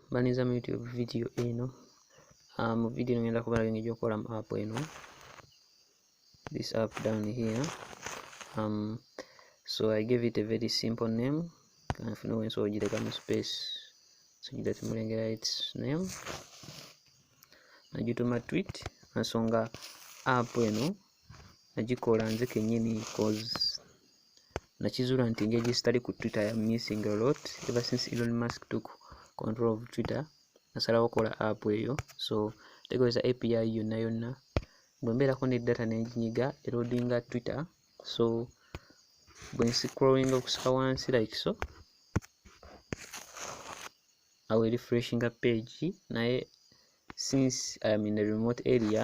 mbaniza mu youtube video eno uh, mu video eno ngenda kubalaga engeri gyokukola mu app eno this app down here um, so i gave it a very simple name kanfuna wensi ogireka mu space so gira timulengera its name nagituma tweet ensonga app eno nagikola nze kenyini cause nakizula nti engeri gyesitali ku twitter ya missing a lot ever since elon musk took control of twitter nasalawo kola app eyo so tekozesa api yonna yonna bwembeerako ne data nenjinyiga erodinga twitter so bwensikrowinga okusika wansi like so awe refreshinga page naye since iam in a remote area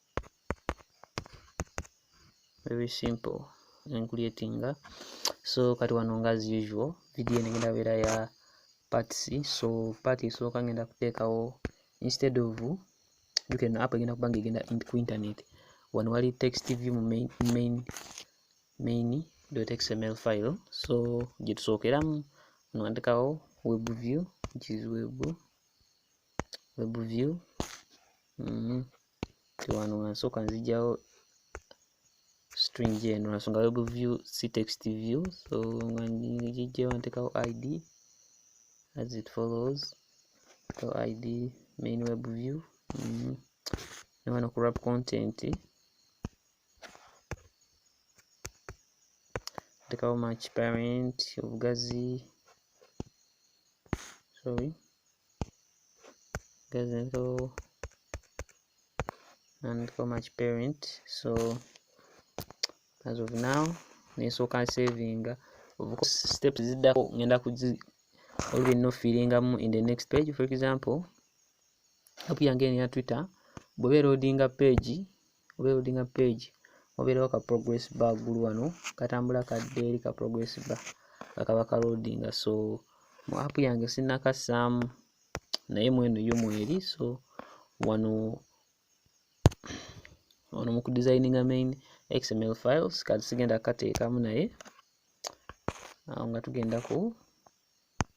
very simple encreatinga so kati wano nga as usual video eno egenda beera ya parts so part esooka ngenda kuteekawo instead of juka eno app egenda kubanga egenda ku internet wano wali text view mu main, main, main xml file so gyetusookeramu nwandikawo web view which is web, web view Mhm. Kati wano nga nsooka nzigyawo string eno nasonga web view si text view so nga ngigyewo ntekawo id as it follows so id main web view mm -hmm. newano ku wrap content ntekawo match parent obugazi sorry guys and go and go match parent so as of now nesooka savinga of course steps ziddako ngenda kuzi olwe no feelingamu in the next page for example app yange ya twitter bweba erodinga page oberodinga page obeerawo ka progress bar gulu wano katambula kadde eri ka progress bar nga kaba ka loadinga so mu app yange sinnakassaamu naye mweno yo mweri so wano wano mu kudesigninga main xml files kati sigenda kateekamu naye awo nga tugenda ku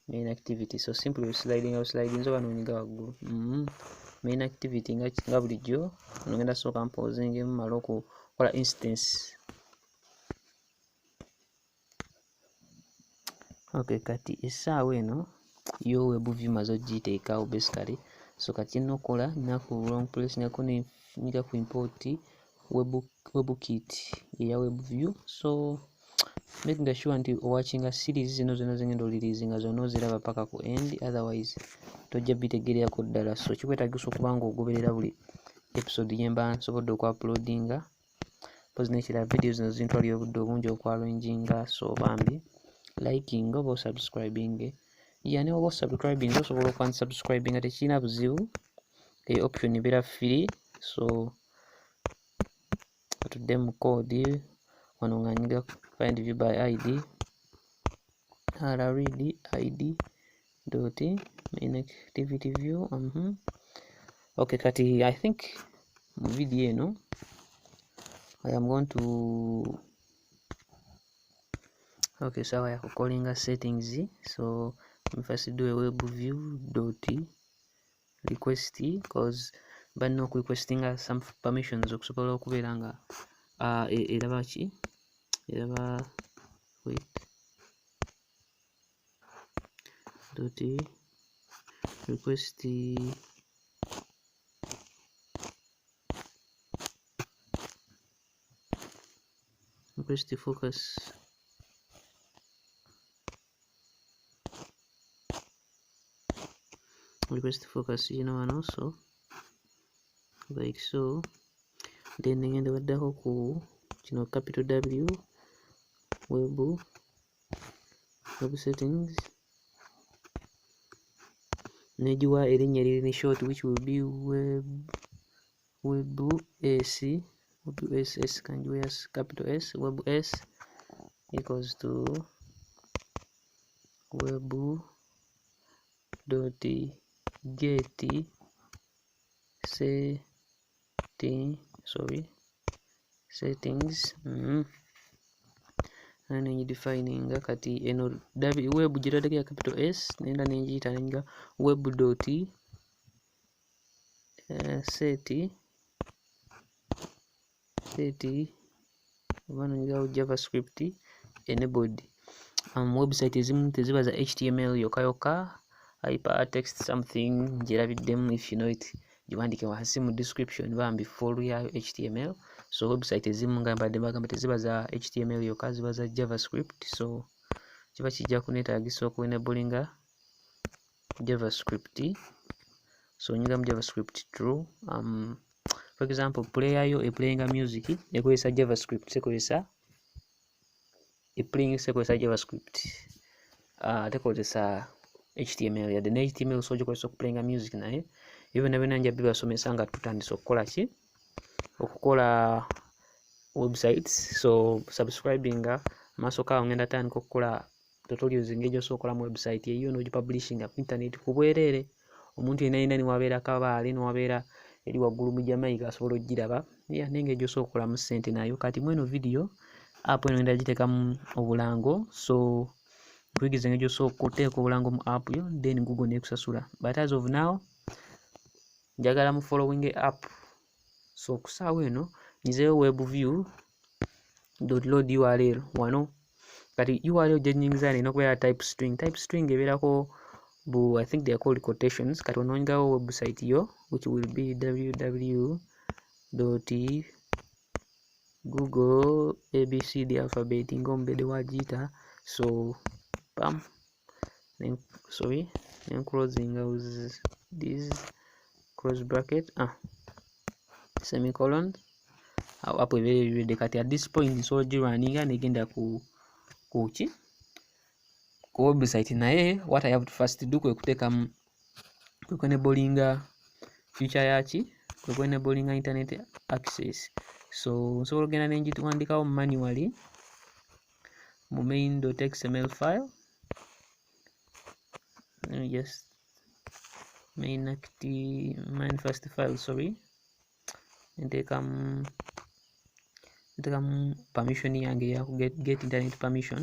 main activity so simply sliding out sliding oba nonyiga waggulu mm -hmm. main activity nga, nga bulijjo nogenda sooka mposing emu mala okukola instance okay kati essaawa eno yo webuvi maze ogiteekawo basically so kati nokola naku long place nako nyiga ku import webukit eya webview so making sure nti owakinga series zino zona zengenda olirizi nga zona oziraba paka ku end otherwise tojja bitegererako ddala so kikwetagisa okuba nga ogoberera buli episode yemba nsobodde okwa uploadinga pozi nekirala video zino zintwalira obudde obungi okwalwenjinga so bambi liking oba osubscribing yani oba osubscribing osobola okwansubscribing nga tekirina buzibu e option ebeera free so katudde mu code wano nga nyiga find view by id rread id dot inactivity view mm -hmm. okay kati i think mu video eno i am going to okay sawa so yakukolinga settings so first do a web view dot request cause balina okurequestinga some permissions okusobola okubeera nga uh, e, eraba ki eraba wait dot request request focus request focus yino wano so like so then ngenda baddako ku kino capital w web web settings negiwa erinnya eriri ne short which will be web web s web s s can you s capital s web s equals to web dot get setting sorry settings mm -hmm. nane ngidefininga kati eno web gitadeko ya capital s nenda nengiyita nenga web dot eh, seti seti oba nongerawo javascript enabled um, website ezimu teziba za html yokka yokka hypertext something njerabiddemu if you know it giwandike wansi mu description bambi full yayo html so website ezimu nga mbadde bagamba teziba za html yokka ziba za javascript so kiba kijja kunetaagisa okuenabulinga javascript so nyingira mu javascript true um, for example player yo eplayinga music ekozesa javascript sekozesa eplaying sekozesa javascript uh, tekozesa html yadde ne html so ogikozesa okuplayinga music naye ebyo byonna byonna nja bibasomesa nga tutandise okukola ki okukola websites so subscribinga maaso kaawo ngenda tandika okukola tutorials engeri gy'osookolamu website eyiyo n'ogipublishinga ku internet ku bwereere omuntu yenna yenna niwabeera kabaale niwabeera eri waggulu mu jamaica asobola okugiraba ya nengeri gyosookolamu ssente nayo kati mweno vidiyo app eno enda giteekamu obulango so nkuyigiriza engeri gyosooka okuteeka obulango mu app yo then google nekusasula but as of now njagala mu following app so okusaawo eno nyizeyo web view download url wano kati url gyenyingiza nina okubeera type string type string ebeerako bu i think they are called quotations kati ononyigawo website yo which will be www google abc the alphabet nga omubede wagiyita so pam then sorry then closing out this close bracket ah semicolon awo apo ebeera ebiwedde kati at this point nsobola ogirwaninga negenda ku kuki ku website naye what i have to first do kwe kuteekamu kwe kwenebolinga future yaki kwe kwenebolinga internet access so nsobola ogenda nengiwandiikawo manually mu main.xml file let me just main acti main first file sorry nteekamu nteekamu permission yange ya get, get internet permission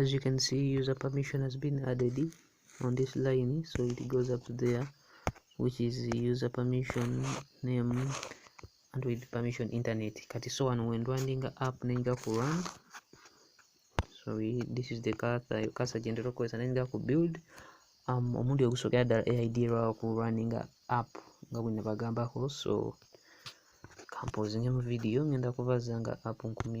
as you can see user permission has been added on this line so it goes up there which is user permission name android permission internet kati so wano wendwandinga app nenga ku run so we, this is the kasa kasa gyendera okukozesa nenga ku build um, omundi ogusookera ddala aid lwawo ku running app nga bwe nabagambako so kampozingemu video ngenda kubaza nga app nkumi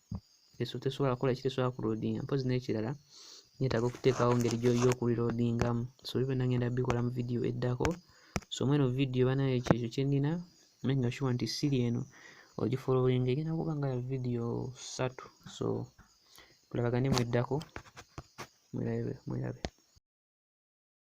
eso tesobola kukola ki tesobola kuloadinga mpozi n'ekirala nyetaaga okuteekawo ngeri yokuliloadingamu so ebyo byonna ngenda bikola mu vidiyo eddako so mweno vidiyo banaye kyekyo kyenina menga shuwa nti siri eno ogifolowinga egenda kuba nga ya vidiyo satu so tulabagane mu eddako mwerabe mwerabe